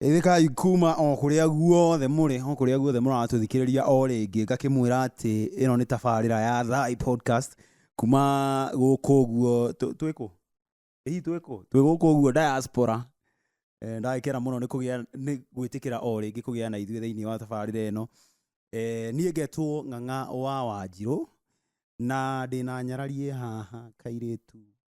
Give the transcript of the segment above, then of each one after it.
Geithĩkai kuuma o kũrĩa guothe mũrĩ, o kũrĩa guothe mũratũthikĩrĩria o rĩngĩ, ngakĩmwĩra atĩ ĩno nĩ tabarĩra ya Thai Podcast kuuma gũkũ ũguo, twĩ kũ? Ĩ hihi twĩ kũ? Twĩ gũkũ ũguo Diaspora. Ndagĩkena mũno nĩ kũgĩa, nĩ gwĩtĩkĩra o rĩngĩ kũgĩa na ithuĩ thĩinĩ wa tabarĩra ĩno. Niĩ ngetwo Ng'ang'a wa Wanjirũ, na ndĩna nyarari ĩ haha, kairĩtu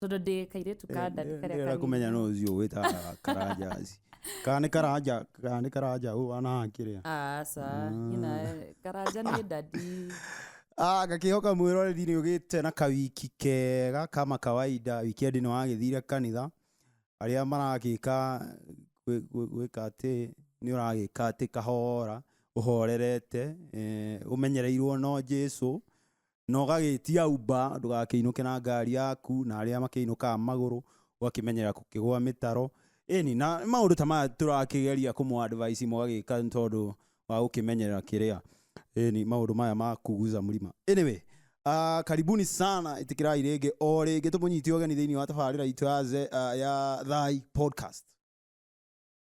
tondå ndä kairä tu ka ndani karä ndä kũmenya no ũcio wĩtaga karanja ici. kana nĩ karanja kana nĩ karanja ũũ ana akĩrĩa aca nyina karanja nä ndadi Ah, ngakĩhoka mwĩroreri nĩ ũgĩte na kawiki kega kama kawaida wikendi nĩ wagĩthire kanitha arĩa maragĩka gwĩ- gwĩ- gwĩka atĩ nĩ ũragĩka atĩ kahora ũhorerete eh, ũmenyereirwo no jesu na ũgagĩtia uber, ndũgakĩinũke na ngari yaku, na arĩa makĩinũkaga magũrũ, ũgakĩmenyera gũkĩgwa mĩtaro, ĩni, na maũndũ ta maya tũrakĩgeria kũmũ advise mũgagĩka nĩ tondũ wa gũkĩmenyerera kĩrĩa, ĩni, maũndũ maya ma kuguza mlima. Anyway, ah, karibuni sana, ĩtĩkĩrai rĩngĩ o rĩngĩ tũmũnyite ũgeni thĩinĩ wa tabarĩra itũ ya, Ze- ah, ya Thai Podcast.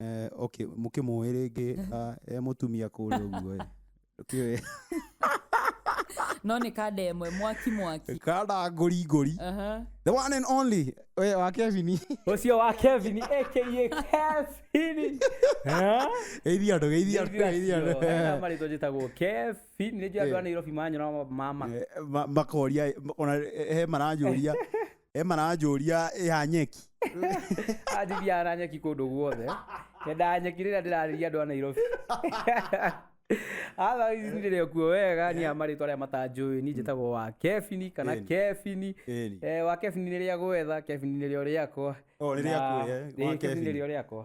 Eh, okay mũkĩmũĩ rĩngĩ ah, e mũtumia kũrĩa ũguo ĩ. Kĩoe. no nĩ kanda ĩmwe mwaki mwaki kanda ngori ngori Aha. the one and only we wa kevin ũcio wa kevin aka kevin Eh? geithia andå geithia andå geithia andå marĩtwa njĩtagwo kevin nĩ njũĩ andũ a nairobi manyora ma ma- Eh, ma- makoria ona he maranjũria e maranjũria ĩha nyeki anjithia na nyeki kũndũ guothe nyendaga nyeki rĩrĩa ndĩrarĩria andũ a nairobi otherwise nĩ ndĩrĩ kuo wega ni amarĩtwa arĩa matanjũĩ ni njĩtagwo wa kebini kana Ĩni. kebini Ĩni. Eh, wa kebini nĩ rĩa gwetha kebini nĩ rĩo rĩakwa O, nĩ Na- rĩaku, eh, wa Ĩĩ, kebini nĩ Kebini. rĩo rĩakwa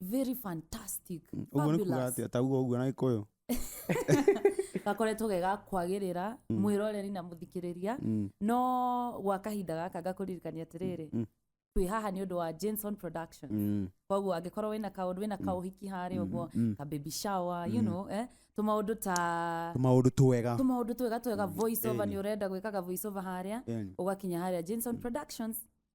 very fantastic Mm, ũguo nĩ kuga fabulous. atĩ atauga ũguo na gĩkũyũ gakoretwo ge ga kwagĩrĩra mwĩroreri na mũthikĩrĩria Mm. no gwa kahinda gaka ngakũririkania atĩrĩrĩ Mm. twĩ haha nĩ ũndũ wa Jenson production Mm. koguo angĩkorwo wĩna kaũndũ wĩna kaũhiki harĩ ũguo mm. ka baby shower you know eh tũmaũndũ ta maũndũ twega tũmaũndũ twega twega voice over nĩ ũrenda gwĩkaga voice over harĩa Ĩni. ũgakinya harĩa Jenson productions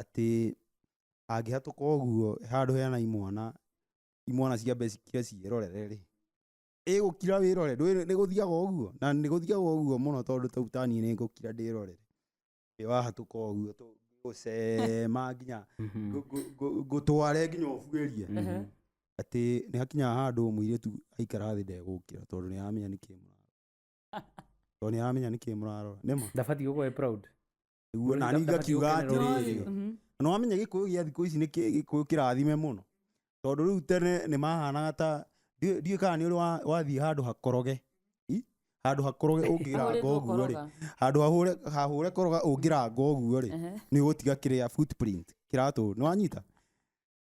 atĩ angĩhatũka ũguo handũ hena imwana, imwana ciambe cikire ciĩrorere rĩ, ĩgũkira wĩrore, ndũĩ nĩ gũthiaga ũguo? Na nĩ gũthiaga ũguo mũno tondũ ta rĩu ta niĩ nĩ ngũkira ndĩrorere ĩ wahatũka ũguo tũ gũcema nginya ngũ- ngũ- ngũ- ngũtware nginya ũbuĩrie atĩ nĩ hakinyaga handũ mũirĩtu aikara thĩ ndegũkĩra tondũ nĩ aramenya nĩkĩ mũrarora tondũ nĩ aramenya nĩkĩ mũrarora nĩma ndabatiĩ gũkorwo e proud nĩguo nani ngakiuga atĩrĩrĩ na wamenya gĩkũyũ gĩa thikũ ici nĩ kĩ- gĩkũyũ kĩrathime mũno tondũ rĩu tene nĩ mahanaga ta ndiũ ndiũ kana nĩ ũrĩ wa- wathiĩ handũ hakoroge I? handũ hakoroge ũngĩranga ũguo rĩ handũ hahũre hahũre koroga ũngĩranga ũguo rĩ nĩ ũgũtiga kĩrĩa footprint kĩratũ nĩ wanyita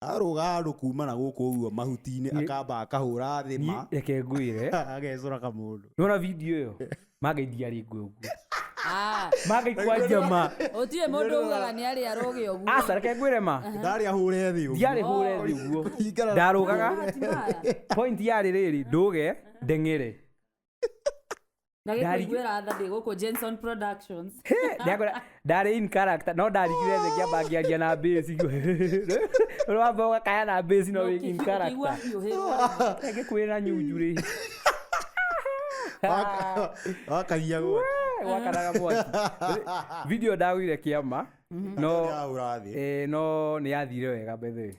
arũga andũ kumana gũkũ ũguo mahuti-inĩ Nĩ- akamba akahũra thĩ ma Niĩ- reke ngwĩre agecũra kamũndũ nona video ĩyo mangaithia rĩ ngwe ũguo Ah, mangaikwa njama gũtirĩ mũndũ ugaga nĩ arĩ arũgĩ ũguo aca reke ngwĩre ma ndarĩ ahũre thĩ ũguo. ndiarĩ hũre thĩ ũguo Kũringana na- ndarũgaga Matimaya. point yarĩ rĩrĩ ndũge ndeng'ere Ndagĩkũigwĩra Ndari- tha ndĩ gũkũ Jenson Productions. Ndagora- ndarĩ in character no ndarigire thĩ ngĩamba ngĩaria na bĩci ũrĩa wamba ũgakaya na bĩci no wĩ in Ũkĩigua character hiũhĩrwo. ngĩkwĩra na nyunjurĩ wakahia gwa gwakanaga mwaki video ndagũire kĩama no ũrathĩ eh, no nĩ yathire wega mbethe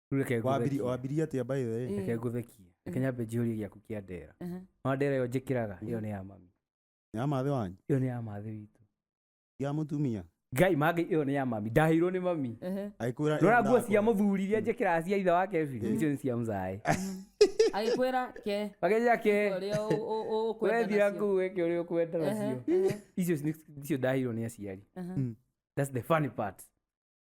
reke Wambiri- ngũthekie wambirie atĩa by the way? Eh. reke ngũthekie reke nyambe njihũrie gĩaku kĩa ndera Aha. ona ndera ĩyo njĩkĩraga ĩyo nĩ ya mami Nĩ ya mathĩ wanyu ĩyo nĩ ya mathĩ witũ ya mũtumia ngai mangĩ ĩyo nĩ ya mami ndahĩirwo nĩ mami Ehe. agĩkwĩra ĩyo rora nguo ndakwa. cia mũthuri iria njĩkĩraga cia itha wake biri icio nĩ cia mũcaĩ agĩkwĩra ke makeja ke ũrĩa ũ- ũ- ũ- ũkwenda wethira nacio. nguo ĩke ũrĩa ũkwenda Ehe, nacio ehe, icio nĩ- icio ndahĩirwo nĩ aciari aha. that's the funny part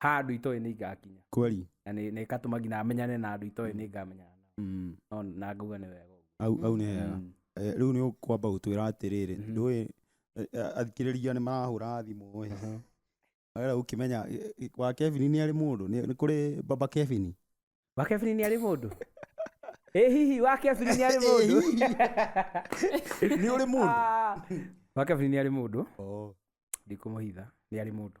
ha andå itoä nä ingakinya kweli na nä gatå ma nginya menyane na andå itoä nä ngamenyana nao. mm. No, na ngauga nä wega ũguo. au, au nĩ hega Mm. Eh, rĩu nĩ ũkwamba gũtwĩra atĩrĩrĩ Mhm. ndũĩ athikĩrĩria nĩ marahũra thimũ ĩ wera ũkĩmenya eh, eh, wa kevin nĩ arĩ mũndũ nĩ nĩ kũrĩ baba kevin wa kebiri nä arä må ndå ä hihi wa kebiri nä arä må ndå nĩ ũrĩ mũndũ wa kebiri nĩ arä må ndå ndikå må hitha nä arä må ndå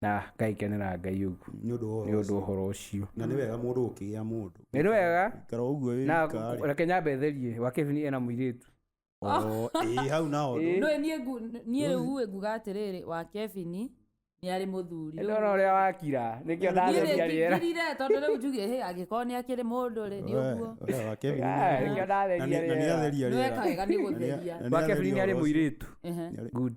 na ngaikenera ngai ũguo nĩ ũndũ wa nĩ ũndũ wa ũhoro ũcio na nĩ wega mũndũ gũkĩgĩa mũndũ nĩ wega ikara ũguo wĩ na wika rĩ. reke nyambe therie wakebini ena mũirĩtu O, ĩĩ hau nao Ĩĩ. ndũĩ niĩ ngu- niĩ rĩu uĩ nguga atĩrĩrĩ wa kebini nĩ arĩ mũthuri Rĩu- ndona ũrĩa wakira nĩkĩo Niĩ ndatheria rĩera nĩngirire tondũ rĩu njugire hĩ angĩkorwo nĩ akĩrĩ mũndũ rĩ nĩ ũguo We, we, wa Kevin Ah, nĩ- nĩkĩo na ndatheria nĩ- na rĩera. nĩatheria rĩera. nĩwekaga nĩ Na gũtheria nĩa- na wakebini nĩ arĩ nĩatheria ũhoro ũcio. mũirĩtu Ehe. Nĩarĩ- good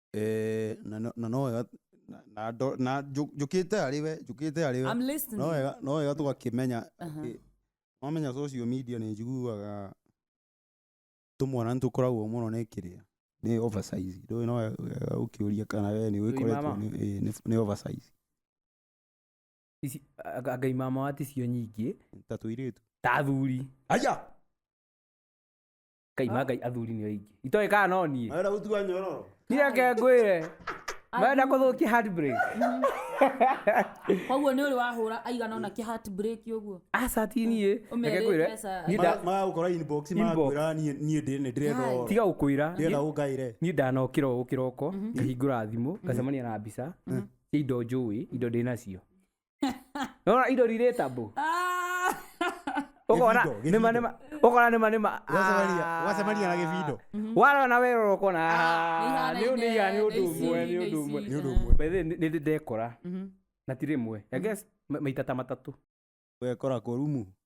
Eh, na no- na no wega na- na ndo- na njũ- njũkĩte harĩ we njũkĩte harĩ we I'm listening. no wega no wega tũgakĩmenya Aha. atĩ- wamenya social media nĩ njiguaga tũmwana nĩ tũkoragwo mũno nĩ kĩrĩa nĩ oversize ndũĩ no wega wega ũkĩũria kana we nĩ wĩkoretwo mama. nĩ- ĩĩ, nĩ- nĩ oversize Ici- anga- anga imama waticio nyingĩ ta tũirĩtu ta athuri aja kai ma ngai athuri nĩ aingĩ itoĩ kana no niĩ Arenda gũtua nyororo. ndireke ngwĩre marenda kũthũkia handbrake koguo nä å rä wahåra aigana ona kä heartbreak å guo aca ti niĩ reke Ũmerĩte ngwĩre aca. niĩ nda- magagũkora inbox Inbox. makwĩra niĩ niĩ ndĩ nĩ ndĩretha tiga gũkwĩra ndĩretha ũngaĩre niĩ ndanokĩra ũũ kĩroko ngahingũra thimũ ngacemania na mbica cia indo njũĩ indo ndĩ nacio nona indo relatable Ah! ukona Gĩbindo, gĩbindo. nima nima ukona nima nima Ũgacemania- ũgacemania na gĩbindo warona werora ukona "Ah, nĩ nĩ iga nĩ ũndũ Nĩici, ũmwe nĩ ũndũ nĩici. ũmwe nĩ ũndũ ũmwe By the way, nĩ nĩ ndĩ ndekora Mhm. na ti rĩmwe I guess ma- maita ta matatũ wekora kå rumu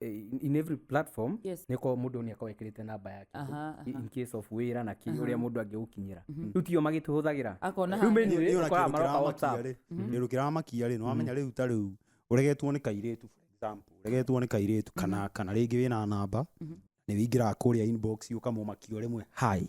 eh, in- in every platform Yes. nä korwo må ndå nä akorwo ekärä te namba yake Aha, aha. in case of wä ra na kä å rä a må ndå angä gå kinyä ra rä u tio magä tå hå thagä ra Akona Rĩu handũ. menu- Nĩ- nĩ ona ũkoraga kĩndũ maroka kĩramakia WhatsApp. rĩ kĩndũ kĩramakia rĩ nĩwamenya rĩu ta rĩu ũregetwo nĩ kairĩtu for example ũregetwo nĩ kairĩtu kana kana rĩngĩ wĩna namba nĩ wĩingĩraga kũrĩa inbox ũkamũmakia rĩmwe hi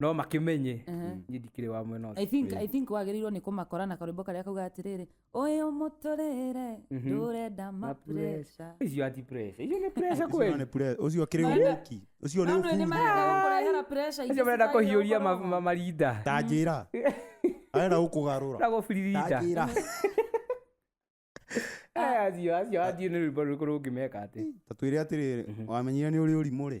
no makĩmenye niĩ ndikĩrĩ wa mwena ũcio. I think, I think wagĩrĩirwo nĩ kũmakora na karwĩmbo karĩa kauga atĩrĩrĩ ũyũ mũtũrĩre ndũrenda mapureca icio ati pressure icio nĩ pressure Icio kweli nĩ pre- ũcio akĩrĩ Marenda- ũki ũcio nĩ ũki nĩmarenda kũrehera icio marenda kũhiũria ma- ma- marinda ta njĩra arenda gũkũgarũra na gũbiririnda ta njĩra Eh, acio acio acio nĩ rwĩmbo rũrĩkũ rũngĩmeka atĩ ta twĩre atĩrĩrĩ wamenyire nĩ ũrĩ ũrimũ rĩ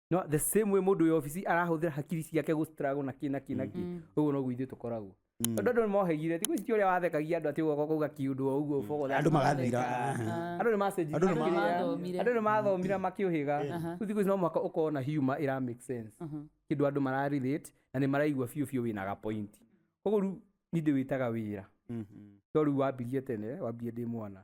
no the same way mũndũ wĩ obici arahũthĩra hakiri ciake gũ struggle na kĩ na kĩ na kĩ ũguo noguo ithuĩ tũkoragwo tondũ andũ nĩ mohegire thikũ ici ti ũrĩa wathekagia andũ atĩ ũgoka kuga kiũndũ o ũguo ũbogo andå magathira andũ nĩ macenjirie Andũ nĩ ma- makĩria. Mathomire. andũ nĩ mathomire makĩũhĩga rĩu thikũ ici no mwaka ũkorwo na humor ĩra make sense kĩndå andå mararelate na nä maraigua biå biå wä na gapointi koguo rä u nindä wä taga wä ra to rä u wambirie tene wambirie ndä mwana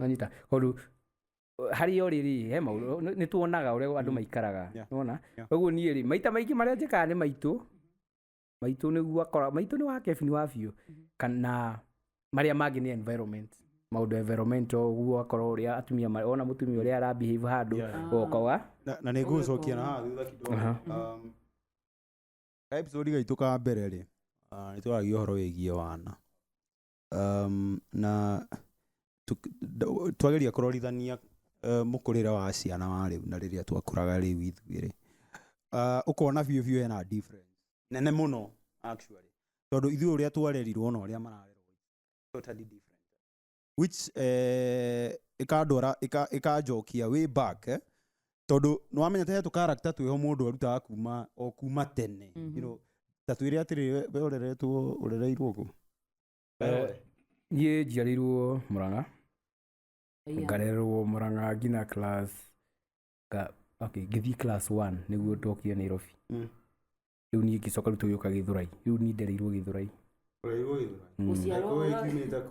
anyita kondu harĩ o rĩrĩ he maũndũ nĩ tuonaga ũrĩa andũ maikaraga Yeah. nona Yeah. koguo niĩ rĩ maita maingĩ marĩa njĩkaga nĩ maitũ maitũ nĩguo akora maitũ nĩ wa kebini wa biũ kana marĩa mangĩ nĩ environment maũndũ ya environment ũguo akora ũrĩa atumia ma- ona mũtumia ũrĩa arabehave handũ Yeah. goka wa na na nä ngå cokia na haha thutha kidogo Aha. Um, ka episode gaitå ka mbere rĩ nä twaragia å horo wä giä wana um, na twageria kũrorithania uh, mũkũrĩre wa ciana wa rĩu na rĩrĩa twakũraga rĩu ithuĩ rĩ uh, ũkona biũ biũ hena difference nene mũno actually tondũ ithuĩ ũrĩa twarerirwo na ũrĩa mararerwo totally different which eh, ikandwara ikanjokia way back eh, tondå nä wamenya te tå karakta twä ho må ndå arutaga kuma o kuma tene Mhm. you know, ta twä rä atä rä we åreretwo å rereirwo kå niä njiarĩirwo mũrang'a ngarererwo mũrang'a nginya class nga- okay, ngĩthiĩ class one nĩguo ndokire nairobi Mm. rĩu niĩ ngĩcoka rĩu tũgĩũka gĩthurai rĩu niĩ ndereirwo gĩthurai å rereirwo gä Mm. Gũciarwo Ũĩ Gĩthurai. kiumĩte kũ?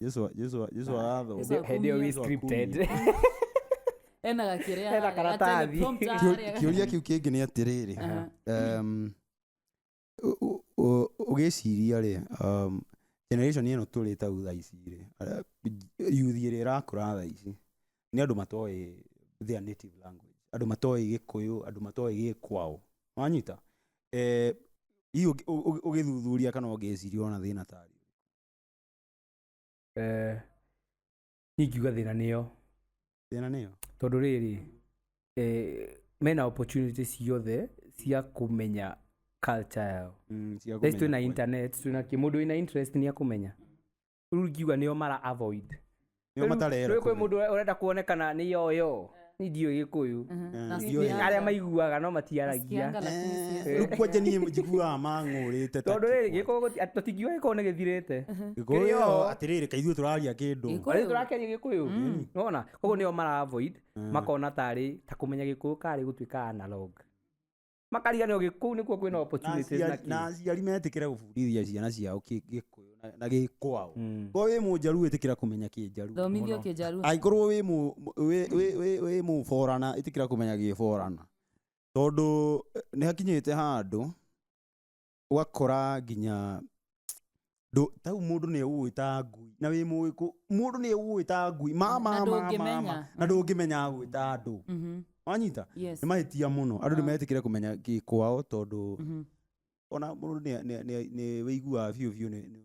Jesu wa- Jesu wa- Jesu agatho Hĩndĩ- hĩndĩ ĩyo wĩ Yesu scripted ena gakĩrĩa Hena harĩa, karatathi. atene prompt Kĩũ- harĩa. kĩũria kĩu kĩngĩ nĩ atĩrĩrĩ Aha. um, ũ- ũ- ũ- ũgĩciria rĩ um, generation ĩno tũrĩ ta thaa ici rĩ ara- yuthi ĩrĩa ĩrakũra thaa ici nĩ andũ matoĩ their native language andũ matoĩ gĩkũyũ andũ matoĩ gĩkwao wanyita eh, hihi ũngĩ- ũ- ũ- ũgĩthuthuria kana ũngĩciria ona thĩna tarĩ eh, niĩ ingiuga thĩna nĩyo thĩna nĩyo tondũ rĩrĩ eh, mena opportunity ciothe cia kũmenya culture yao Mm, cia Thaa ici twĩ kũmenya na kweli. internet twĩ na kĩ mũndũ wĩna interest nĩ akũmenya rĩu ingiuga nĩo mara avoid nĩo Rĩu matarera rĩu kwĩ kũmenya. mũndũ ũrenda kuonekana nĩ yoyo nĩ ndiũĩ gĩkũyũ Eh, Na ndiũĩ. Sianga. arĩa maiguaga no matiaragia Sianga lakini Eh, sianga. rĩu kwanja niĩ njiguaga mang'ũrĩte ta tondå rä rä gä kĩkwa. kå tũtingiuga gä korwo nä gä thirä te Gĩkũyũ, Kĩrĩo. atĩrĩrĩ kaithuĩ tũraria kĩndũ Gĩkũyũ. rä tå rakeria gä kå yå nona koguo nä o mara makona tarä ta kå menya gä kå yå karä gå tuä ka analog makariganĩrwo gĩ- kũu nĩkuo kwĩna na opportunities na aciari- kĩ. na aciari metĩkĩre gũbundithia ciana ciao kĩ- gĩkũyũ na- na gĩkwao Mm. ko wĩ mũnjaru ĩtĩkĩra kũmenya kĩnjaru thomithio kĩnjaru angĩkorwo wĩ mũ- wĩ- wĩ- wĩ- wĩ mũborana ĩtĩkĩra kũmenya gĩborana tondũ eh, nĩ hakinyĩte handũ ũgakora nginya ndũ- tau mũndũ nĩ egũgwĩta ngui na wĩ mũĩ kũ- mũndũ nĩ egũgwĩta ngui ma ma Na ma ma ndũngĩmenya. ma na ndũngĩmenya agwĩta andũ Mhm. wanyita Yes. nĩ mahĩtia mũno andũ nĩ Ah. mahetĩkĩre kũmenya gĩkwao tondũ Mhm. ona mũndũ nĩ- nĩ- nĩ- nĩ wĩiguaga biũ biũ nĩ- nĩ-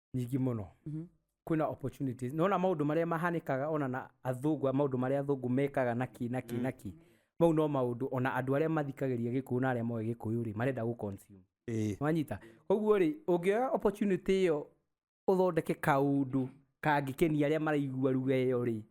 nyingĩ mũno Mhm. kwĩna opportunities nona maũndũ marĩa mahanĩkaga ona na athũngũ maũndũ marĩa athũngũ mekaga naki naki Mm. naki mau no maũndũ ona andũ arĩa mathikagĩria gĩkũyũ na arĩa moĩ gĩkũyũ rĩ marenda gũ consume Ĩĩ. wanyita koguo rĩ ũngĩoya opportunity ĩyo ũthondeke kaũndũ kangĩkenia arĩa maraigua ruga ĩyo rĩ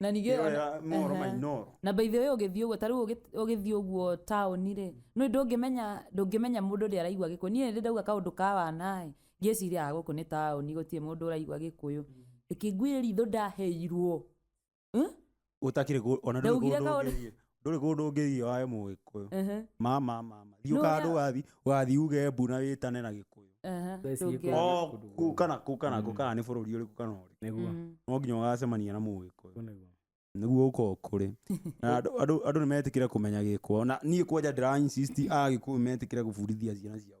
na ningĩ Ĩyo ona- ya mohoro ma Ehe. Inooro. na by the way ũgĩthiĩ ũguo tarĩu ũgĩthiĩ ũguo taũni rĩ nĩ ndũngĩmenya ndũngĩmenya mũndũ ũrĩa araigua gĩkũyũ niĩ rĩrĩa ndauga kaũndũ ka wanaĩ ngĩciria "Ah, gũkũ nĩ taũni gũtirĩ mũndũ ũraigua gĩkũyũ ĩkĩngwire ritho ndaheirwo Eh? Ũtakĩrĩ kũ- ona ndũrĩ Ndaugire kũndũ kaũndũ- ũngĩthiĩ. ndũrĩ kũndũ ũngĩthiĩ wae mũgĩkũyũ Ehe, ma ma ma ma thiĩ Nũ ũkanda ũrĩa- ũgathi ũgathi uge mbu na wĩtane na gĩkũyũ ehe, Thaa ici ndũngĩaga. gĩkũyũ. o Kũndũ kũ kana kũ kana kũ kana nĩ bũrũri ũrĩkũ kana ũrĩkũ nĩguo Mm. no nginya ũgacemania na mũgĩkũyũ Ũguo nĩguo nĩguo ũko kũrĩ na andũ andũ andũ nĩ metĩkĩre kũmenya gĩkwa na niĩ kwanja ndĩra insist agĩkũyũ metĩkĩre gũbundithia ciana ciao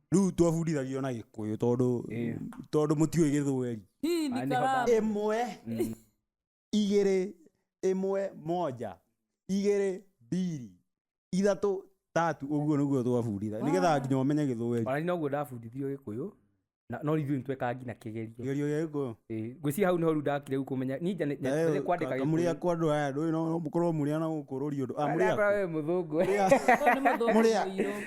rĩu twabundithagio na gĩkũyũ tondũ Ĩĩ. tondũ mũtiũĩ gĩthweri Hii ni Ah, ni kalamu. baba. ĩmwe igĩrĩ ĩmwe moja igĩrĩ mbiri ithatũ tatu ũguo nĩguo twabunditha nĩgetha nginya ũmenye gĩthweri ona ninoguo ndabundithirio gĩkũyũ na no ithuĩ nĩtwekaga nginya kĩgerio kĩgerio gĩa gĩkũyũ Ĩĩ, ngwĩciria hau nĩho rĩu ndakire rĩu kũmenya ninja nĩ- nĩ- nĩ kwandĩka gĩkũyũ. mũrĩa kwa andũ aya ndũĩ no mũkorwo mũrĩa na gũkũrũria ũndũ Ah, Ndakora mũrĩa we mũthũngũ Ko nĩ mũthũngũ Mũrĩa. mũirũ.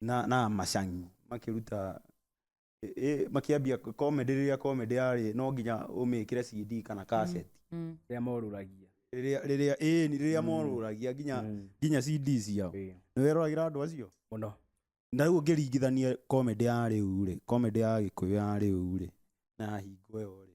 na, na macang'i makĩruta ĩ- ĩ- makĩambia comedy rĩrĩa comedy yarĩ no nginya ũmĩkĩre CD kana cassette Mm. rĩrĩa morũragia rĩrĩa rĩrĩa ĩĩ ni rĩrĩa morũragia nginya Mm. nginya CD ciao Ĩĩ. nĩ weroragĩra andũ acio mũno na rĩu ũngĩringithania comedy ya rĩu rĩ comedy ya gĩkũyũ ya rĩu rĩ na hingo ĩyo rĩ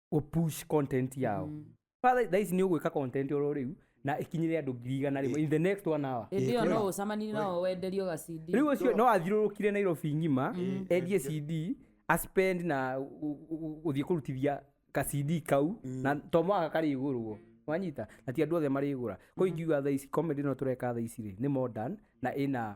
ũpush content yao mm. father thaa ici nĩ ũgwĩka content oro rĩu na ĩkinyĩre andũ ngiri igana rĩmwe in the next one hour ĩndĩ ĩyo no ũcamanie nao wenderio gacindi rĩu ũcio no athiũrũrũkire nairobi ng'ima endie cd aspend na gu- gu- gu- gũthiĩ kũrutithia ka cd kau na to mwaka karĩgũrwo wanyita na ti andũ othe marĩgũra ko ingiuga thaa ici comedy no tũreka thaa ici rĩ nĩ modern na ĩna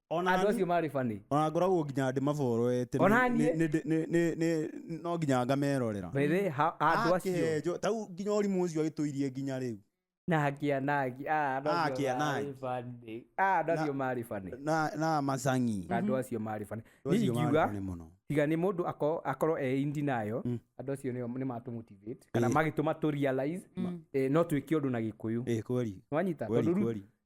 Ona andũ ni- acio marĩ bani ona ngoragwo nginya ndĩ maborete Ona niĩ. no nginya ngamerorera Bebe, ha- andũ acio Akenjwo, ta rĩu nginya ũrimũ ũcio agĩtũirie nginya rĩu nakia naki ah, andũ acio Nakia marĩ naki. funny. Ah, andũ acio marĩ bani na na macangi andũ acio marĩ bani Andũ niĩ acio marĩ ingiuga funny mũno tiga nĩ mũndũ ako- akorwo e indi nayo Mm. andũ acio nĩo- nĩ matũmotivate kana Eh. magĩtũma tũ realize eh, no twĩke ũndũ na gĩkũyũ ĩ kweri nĩwanyita kweri tondũ rĩu kweri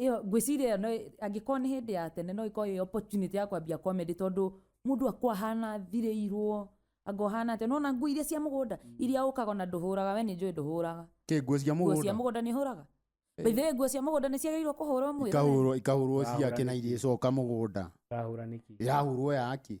ĩyo ngwĩciria ĩyo no angĩkorwo nĩ hĩndĩ ya tene no ĩkorwo ĩyo opportunity ya kwambia comedy tondũ mũndũ akwa hana thirĩirwo anga ũhana atĩa nona nguo iria cia mũgũnda iria ũkaga ona ndũhũraga we nĩ njũĩ ndũhũraga kä nguo cia nguo cia mũgå mũgũnda nĩ hũraga baithĩwe nguo cia mũgũnda nĩ ciagĩrĩirwo kũhũrwo mwĩrĩ ikahå rwo ciake na Irahũra. irä coka må gå nda Ndahũra nĩki? ä rahå rwo yaki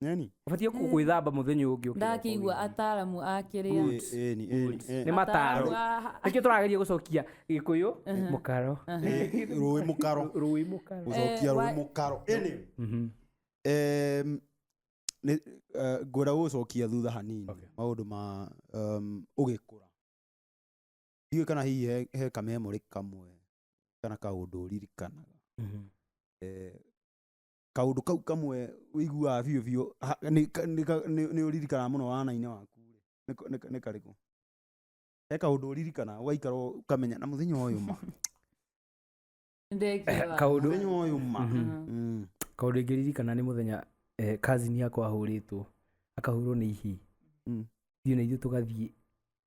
Neni? Ũbatiĩ kũ- gwĩthamba mũthenya ũyũ ũngĩ ũkĩra ndakĩigua ũkĩra. ataaramu akĩrĩa Ĩni, ĩni, ĩni, ĩni. nĩ mataro Ataaramu a- nĩkĩo tũrageria gũcokia gĩkũyũ mũkaro Ĩ, rũĩ mũkaro rũĩ mũkaro gũcokia Eh, rũĩ wa- mũkaro ĩni Mhm. Em, nĩ- eh, ngwenda gũgũcokia thutha hanini Okay. maũndũ ma em, ũgĩkũra ndiũĩ kana hihi he- he kamemorĩ kamwe kana kaũndũ ũririkanaga Mhm. eh, kaũndũ kau kamwe ũiguaga biũ biũ ha- nĩ- ka- nĩ ka- nĩ- nĩ ũririkanaga mũno wana-inĩ waku nĩ ka- nĩ ka- nĩ karĩkũ he kaũndũ ũririkanaga ũgaikara ũkamenya na mũthenya ũyũ ma Nĩndekĩra. kaũndũ mũthenya ũyũ ma Mhm. Mhm. Mm. kaũndũ ingĩririkana nĩ mũthenya eh, kazini yakwa ahũrĩtwo akahũrwo nĩ ihi Mm. thiĩ na ithuĩ tũgathiĩ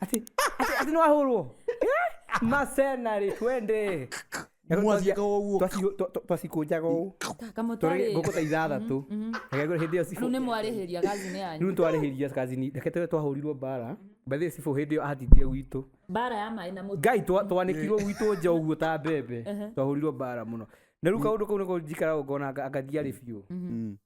ati ati- ati nĩwahũrwo Eh, macenarĩ twende Mwathiĩka o ũguo. Twaci- twa- twa- twacikũnjaga ũũ Tũrĩ- kamũtarĩ ngũkũ ta ithathatũ Rekegũre hĩndĩ ĩyo rĩu cibũ- nĩ mwarĩhĩria gathine yanyu rĩu twarĩhĩria kazini reke twe twahũrirwo mbara mbathĩ cibũ hĩndĩ ĩyo atindire gwitũ mbara ya maĩ na mũtu ngai twa- twanĩkirwo gwitũ nja ũguo ta mbembe twahũrirwo mbara mũno na rĩu kaũndũ kau nĩko njikaraga ngona anga- angathiarĩ biũ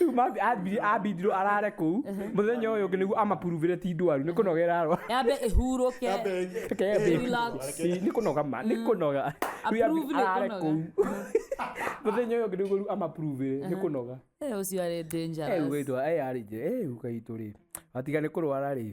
rĩu mabi- ambiri- ambindirwo arare kũu mũthenya ũyũ ũngĩ nĩguo amapuruvĩre ti ndwaru nĩ kũnoga ĩrarwa yambe ĩhurũke Relax. nĩ kũnoga ma nĩ kũnoga Rĩu Approve nĩ arare kũnoga. kũu mũthenya ũyũ ũngĩ nĩguo rĩu amapuruvĩre nĩ kũnoga Eh, ũcio arĩ dangerous. ũgaitwa arĩ nje ũgaitũ rĩ watiga nĩ kũrwara rĩ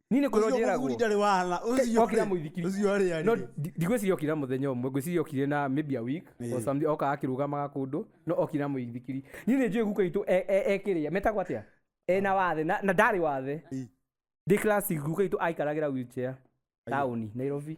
niĩ nĩ kũrwo Ũcio njĩragwo mũthuri ndarĩ wahana ũcio okira rĩ, mũithikiri ũcio arĩ arĩ no ndi- ndigwĩciria okira mũthenya ũmwe ngwĩciria okire na maybe a week Ĩĩ. or something oka akĩrũgamaga kũndũ no okira mũithikiri niĩ nĩ njũĩ guka itũ e- e- ekĩrĩa metagwo atĩa ena wathe na na ndarĩ wathe Ĩĩ. ndĩ class guka itũ aikaragĩra wheelchair taũni nairobi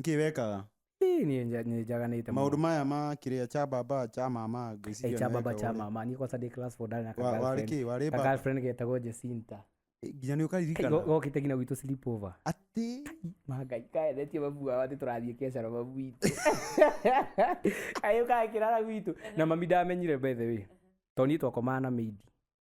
nkä wekaga Ii, niĩ nja- nĩ njaganĩte maå ndå mũno. maya ma kä rä a cha baba cha mama Eh, ngwĩciria cha nĩ baba wekaga cha ũrĩa. mama niä kwaca ndä class four ndarä na ka Wa- warĩ girlfriend. kä warä Ka baba girlfriend getagwo Jacinta. Eh, nginya nä å Kai, go- karirikana gokĩte nginya gwitũ sleep over. atä Mangai, kaethetie babu wao atĩ tũrathiĩ kĩacaro babu witũ. Kayũ gakĩrara gwitũ. Na mami ndamenyire by the way. Tondũ niĩ twakomaga na maid.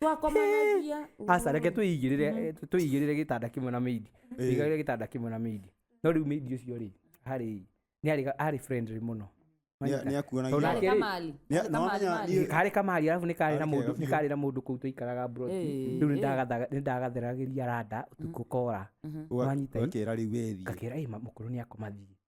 twakomanagia aca reke tũigĩrĩre tũigĩrĩre gĩtanda kĩmwe na mĩindi Ĩĩ. igagĩre gĩtanda kĩmwe na mĩindi no rĩu mĩindi ũcio rĩ harĩ nĩ arĩ arĩ friendly mũno Nĩ- nĩ akuona Tondũ irio. Arĩ Nake rĩ, kamali. Nĩ- Arĩ na kamali, wamenya mali. niĩ- harĩ kamari arabu nĩ karĩ na Arĩ mũndũ kega nĩ biũ. karĩ na mũndũ kũu tũikaraga broti Ĩĩ, rĩu ĩĩ. nĩndagathaga- nĩndagatheragĩria randa ũtukũ kora Ũga- Wanyita i- ũgakĩra rĩu wethi ngakĩra ĩ mũkũrũ nĩ akomathiĩ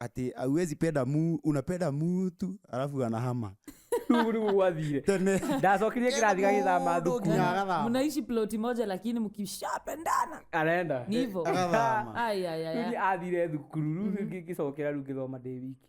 ati auwezi penda mu unapenda mutu alafu anahama Rĩu rĩu gwathire tene ndacokirie kĩrathi gagĩthama Mũndũ thukuru ũngĩ. Agathama. mnaishi ploti moja lakini mkishapendana arenda ni hivo agathama Ai, ai, ai, ai. Rĩu athire thukuru rĩu ngĩcokera rĩu ngĩthoma ndĩ wiki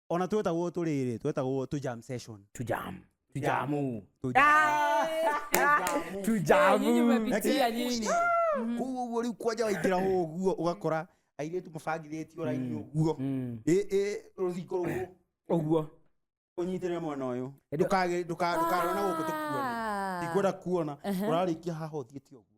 ona twetagwo tũrĩrĩ twetagwo tũ jam session tujamu tujamu Tũ- Ah! Nyinyi tujamu mmepitia nyinyi koguo ũguo rĩu kwanja waingĩra ũguo ũgakora airĩtu mabangithĩtio raini ũguo Mm. Ĩ- ĩ, rũthingo rũguo ũguo ũnyitĩrĩre mwena ũyũ Ĩndĩ- ndũkarona gũkũ tũkuona ikwenda kuona ũrarĩkia haha ũthiĩte ũguo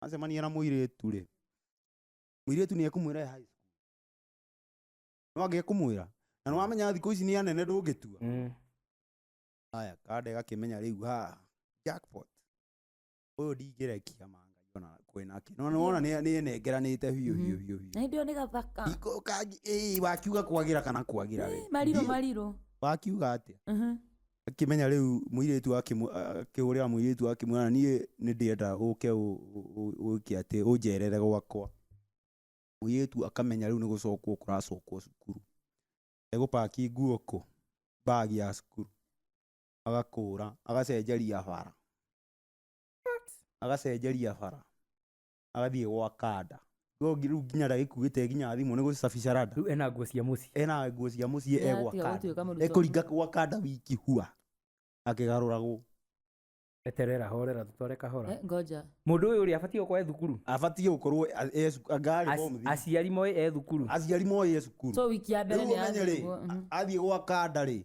acemania na mũirĩtu rĩ mũirĩtu nĩ ekũmwĩra high school no angĩ ekũmwĩra na nĩ wamenya thikũ ici nĩ anene ndũngĩtua Mm. haya kanda ĩgakĩmenya rĩu ha jackpot ũyũ ndingĩrekia mangai ona kwĩ nake no nĩwona nĩenengeranĩte biũ biũ biũ biũ na hĩndĩ ĩyo nĩ gathaka Iko- kangi- ĩĩ, wakiuga kwagĩra kana kwagĩra rĩ Eh, marirũ Ndiũ. marirũ wakiuga atĩa Mhm. Akĩmenya rĩu mũirĩtu akĩmwĩ- a- akĩhũrĩra mũirĩtu akĩmwĩra niĩ nĩ ndĩenda ũke ũ- ũ- ũ- ũke atĩ ũnjerere gwakwa mũirĩtu akamenya rĩu nĩ gũcokwo kũracokwo cukuru egũpaki nguo kũ mbagi ya cukuru agakũra agacenjeria bara agacenjeria bara agathiĩ gwa kanda Rĩu ngi- rĩu nginya ndagĩkuĩte nginya thimũ nĩ gũcicabica rada rĩu ena nguo cia mũciĩ ena nguo cia mũciĩ Nĩ egwa atiga gũtuĩka kanda mũrutwo. ekũringa gwa kanda wiki hua akĩgarũragwo eterera horera tũtware kahora Eh, ngoja mũndũ ũyũ rĩ abatiĩ gũkorwo e thukuru abatiĩ gũkorwo a- e cu- ngarĩ Ac- bomthi. aciari moĩ e thukuru aciari moĩ e cukuru so wiki ya mbere Rĩu nĩ ũmenye rĩ, yathiĩ guo, mhm. athiĩ gwa kanda rĩ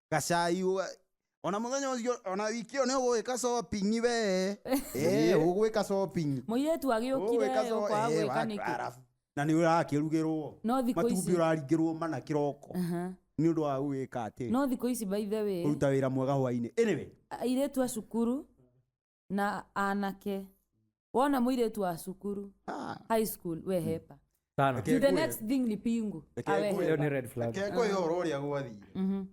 gacai we ona muthenya ucio ona wiki ĩyo nĩ ũgwĩka shopping we Eh, ũgwĩka shopping mũirĩtu agĩũkire Ũgwĩka sho- ũkwa eh, gwĩka wa- nĩkĩ arabu. na nĩ ũrakĩrugĩrwo No thikũ matumbĩ ici- ũraringĩrwo mana kĩroko Aha. nĩ ũndũ wa gwĩka atĩ no thikũ ici by the way kũruta wĩra mwega hwainĩ anyway airĩtu a cukuru na anake wona mũirĩtu wa cukuru Ah. high school wehepa sana Reke to the ngwe- next thing ni pingu Reke awehepa. ngwe- hiyo ni red flag Reke ngwe ũhoro ũrĩa gwathire Mhm.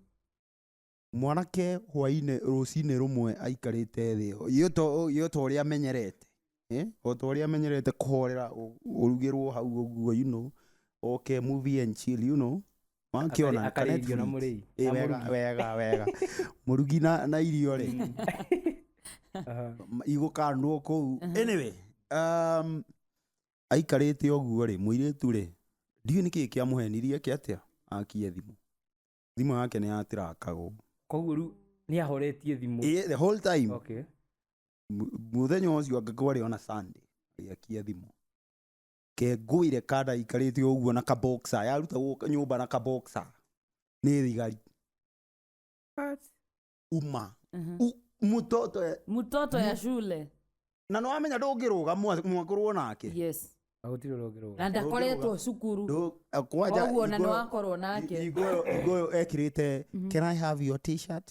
mwanake hwainĩ rũcinĩ rũmwe aikarĩte thĩ yo to- yo ta ũrĩa amenyerete Eh, o ta ũrĩa amenyerete kũhorera ũ- ũrugĩrwo hau ũguo you know oke movie and chill you know Akari- akarĩa irio na mũrĩi. Na mũrugi. wega wega mũrugi na na irio rĩ Aha. igũkandwo kũu anyway um, aikarĩte ũguo rĩ mũirĩtu rĩ ndiũ nĩ kĩĩ kĩamũhenirie ke atĩa akie thimũ thimũ yake nĩ yatirakagwo koguo rĩu nĩ ahoretie thimũ Ĩ, the whole time okay. mu- mũthenya ũcio angĩkorwo arĩ ona sunday agĩakia thimũ kengũire kandaikarĩte ũguo na kaboxa yarutagwo nyũmba na kaboxa nĩ thigari What? uma Mhm. U- mũtoto e- mtoto ya shule na nĩ wamenya ndũngĩrũga mwa- mwakorwo nake yes Na gũtirĩ ũrĩa ũngĩrũga. na ndakoretwo cukuru Ndũ- eh, kwanja koguo na nĩ Igoyo- wakorwo nake Igoyo- igoyo ekĩrĩte can i have your t-shirt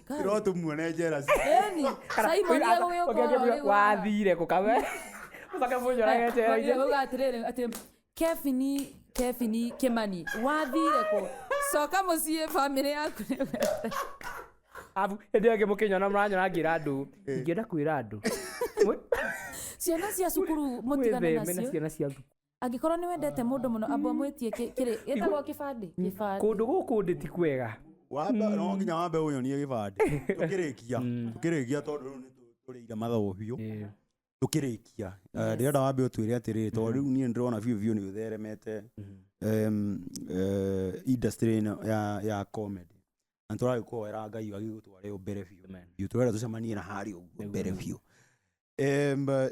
Tirwo tumuone njera ci. Eni, Simon nĩ egũgĩũkora rĩu. wathire kå kawe å coke må nyorage Oige njera uga atiriri ati kebini kebini kimani wathire ku coka mucii family yaku ni wega." abu hä ndä ä yo ngä må kä nyona må ranyona ngä ra andå ingä enda kwä ra andå ciana cia cukuru mutigane witheme na nacio ciana cia thukuru angĩkorwo nĩ wendete mũndũ mũno amba ũmwĩtie kĩ- kĩrĩ gĩtagwo kĩbandĩ kĩbandĩ kũndũ gũkũ ndĩ ti kwega wambe no nginya wambe ũnyonie gĩbandĩ tũkĩrĩkia tũkĩrĩkia tondũ rĩu nĩtũrĩire mathaũ biũ tũkĩrĩkia Eh, ndĩrenda wambe ũtwĩre atĩrĩ tondũ rĩu niĩ nĩndĩrona biũ biũ nĩ ũtheremete em, eh, industry ĩno ya- ya comedy na tũragĩkũhoera ngai agĩgũtware mbere biũ biũ tũrenda tũcemanie na harĩ ũguo mbere biũ Em, eh,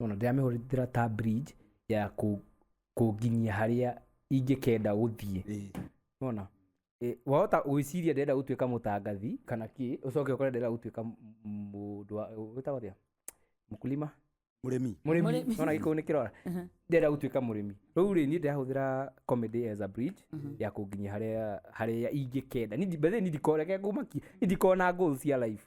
Ona ndĩramĩhũthĩra ta bridge ya kũ- kũnginyia harĩa ingĩkenda gũthiĩ Ĩĩ. ona wahota gwĩciria ndĩrenda gũtuĩka mũtangathi kana kĩ ũcoke ũkore ndĩrenda gũtuĩka m- m- mũndũ wa- wĩtagwo atĩa? mũkulima mũrĩmi mũrĩmi Mũrĩmi. ona gĩkũyũ nĩ kĩrora Mhm. ndĩrenda gũtuĩka mũrĩmi rĩu rĩ niĩ ndĩrahũthĩra comedy as a bridge Mhm. ya kũnginyia harĩa harĩa ingĩkenda Ni- by the way, ni ndikoreke ngũmaki ni ndikona goals cia life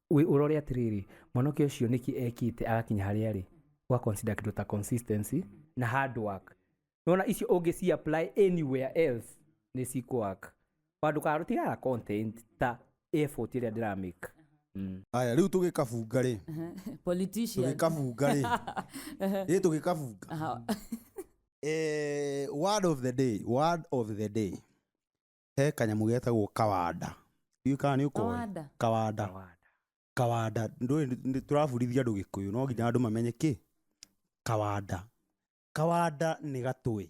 Wĩ ũrore atĩrĩrĩ, mwanake ũcio nĩkĩ ekĩte agakinya harĩa arĩ? Ũga consider kĩndũ ta consistency na hard work. Nĩwona icio ũngĩ ci apply anywhere else nĩ cikũ work. Ona ndũkarora tigana content ta effort ĩrĩa ndĩra make. Aya rĩu tũgĩkabunga rĩ, Politician. tũgĩkabunga rĩ, ĩ tũgĩkabunga. Aha. Eh, word of the day, word of the day. he kanyamũ getagwo kawanda ndiũĩ kana nĩ ũkoĩ Kawanda. kawanda Kawada. kawanda ndũĩ nĩ- nĩ- tũrabundithia andũ gĩkũyũ no nginya andũ mamenye kĩ kawanda kawanda nĩ gatũĩ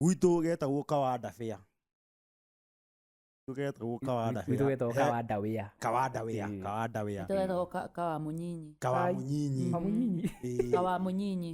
gwitũ getagwo kawanda bĩa gwitũ getagwo kawanda Gwitũ bĩa. wetagwo He- kawada wĩa kawanda wĩa Ĩĩ. kawanda wĩa Nĩtũgetagwo ka- kawa mũnyinyi kawa Ai. mũnyinyi Kamunyinyi. Ĩĩ. kawa mũnyinyi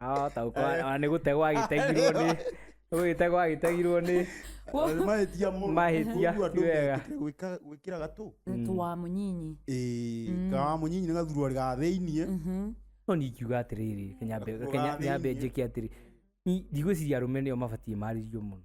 arahota gũkorwo ona nĩ gũtegwo agĩtegirwo nĩ nĩ gũgĩtegwo agĩtegirwo nĩ mahĩtia mũno Mahĩtia, Ũguo andũ ti wega. metĩkĩre gwĩka- gwĩkĩra gatũ tu wa mũnyinyi Ĩĩ, kawa mũnyinyi nĩ gathuruarĩ ga thĩiniĩ no nĩ ingiuga atĩrĩrĩ Kũgũra nyambe thĩinĩ. njĩke atĩrĩ Ni- ndigwĩciria arũme nĩo mabatiĩ marĩrio mũno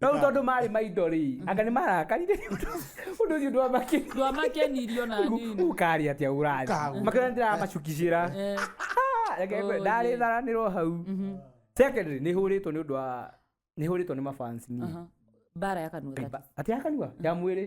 no rĩu tondũ marĩ maindo rĩ anga nĩ marakarire nĩ ũndũ ũndũ ũcio ndwamakĩra ndwamakenirio na nini ũkarĩ atĩa ũrarĩ Ũkaagũra. makĩra ndĩramacukicĩra Eh, Reke ngwe- Oh, ndarĩ yeah. tharanĩrwo hau mhm, secondary nĩ hũrĩtwo nĩ ũndũ wa nĩ hũrĩtwo nĩ mabans niĩ aha. bara ya kanua that is. ati ya kanua ya mwĩrĩ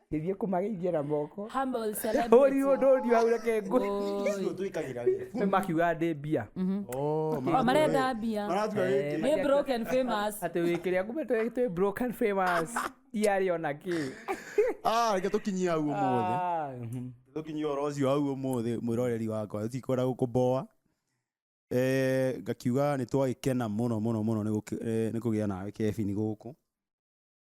Ngĩthiĩ kũmageithia na moko. Humble celebrity. Hũri ũndũ ũthiũ hau reke ngũ. Icio twĩkagĩra wĩ. Makiuga ndĩ mbia. Oh, Oh, marenda mbia. Maratuga Eh. wĩkĩ. Nĩ broken famous. Atĩ wĩ kĩrĩa kumbe twĩ twĩ broken famous. Tiarĩ ona kĩ. Ah, reke tũkinyie hau ũmũthĩ. Ah, mhm. Tũkinyie ũhoro ũcio hau ũmũthĩ mwĩroreri wakwa. Tũtikwenda gũkũboa. Eh, ngakiuga nĩ twagĩkena mũno mũno mũno nĩ gũkĩ- eh, nĩ kũgĩa nawe Kevin gũkũ.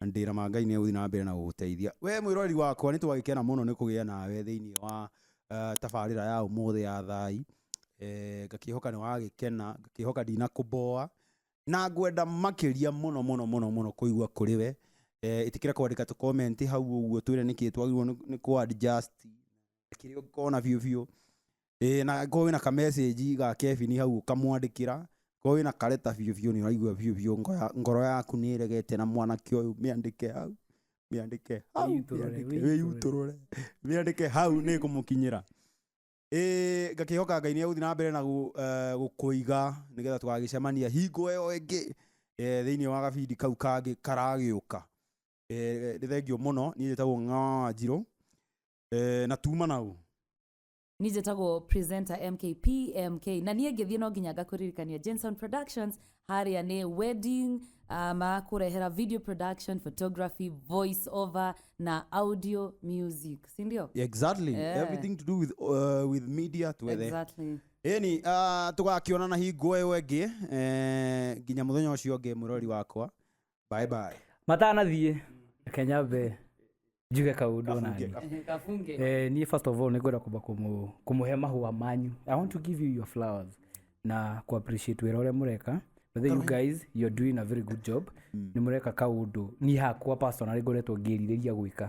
na nĩ ndĩra ma Ngai nĩ egũthiĩ na mbere na gũgũteithia. Wee mwĩroreri wakwa nĩ twagĩkena mũno nĩ kũgĩa nawe thĩinĩ wa tabarĩra ya ũmũthĩ ya Thai, ngakĩhoka nĩ wagĩkena, ngakĩhoka ndinakũboa, na ngwenda makĩria mũno mũno mũno mũno kũigua kũrĩ we. Ĩtĩkĩra kwandĩka tũ comment hau ũguo twĩre nĩkĩ twagĩrĩirwo nĩ kũ adjust, kĩrĩa ũngĩkona biũ biũ. ĩĩ na korwo wĩna ka message ga Kevin hau ũkamwandĩkĩra korwo wĩna kareta biũ biũ nĩ ũraigua biũ biũ ngoya- ngoro yaku nĩ ĩregete na mwanake ũyũ mĩandĩke hau mĩandĩke hau Wĩyutũrũre, mĩandĩke- wĩyutũrũre. wĩyutũrũre mĩandĩke hau nĩ kũmũkinyĩra ĩĩ ngakĩhoka ngai nĩ egũthiĩ na mbere na gũ- eh, gũkũiga nĩgetha tũgagĩcemania hingo ĩyo ĩngĩ eh, thĩinĩ wa gabindi kau kangĩ karagĩũka Eh, nĩ thengio mũno niĩ njĩtagwo ng'anjirũ Eh, na tuma nau ni njĩtagwo presenter mkp mk na niĩ ngĩthiĩ no nginya ngakũririkania jenson productions harĩa nĩ wedding uh, makũrehera video production photography voice over na audio music sindio exactly Yeah. everything to do with, uh, with media twethe exactly. ĩni uh, tũgakĩonana hingo ĩyo ĩngĩ eh, nginya mũthenya ũcio ũngĩ mũrori wakwa bye bye matanathiĩ reke nyambe njuge kaũndũ Kabunge, nani kabunge. kafunge Eh, niĩ first of all nĩ ngwenda kwamba kũmũ- kũmũhe mahũa manyu i want to give you your flowers na ku appreciate wĩra ũrĩa mũreka But then you guys you're doing a very good job nĩ mũreka kaũndũ niĩ hakwa personally ngoretwo ngĩrirĩria gwĩka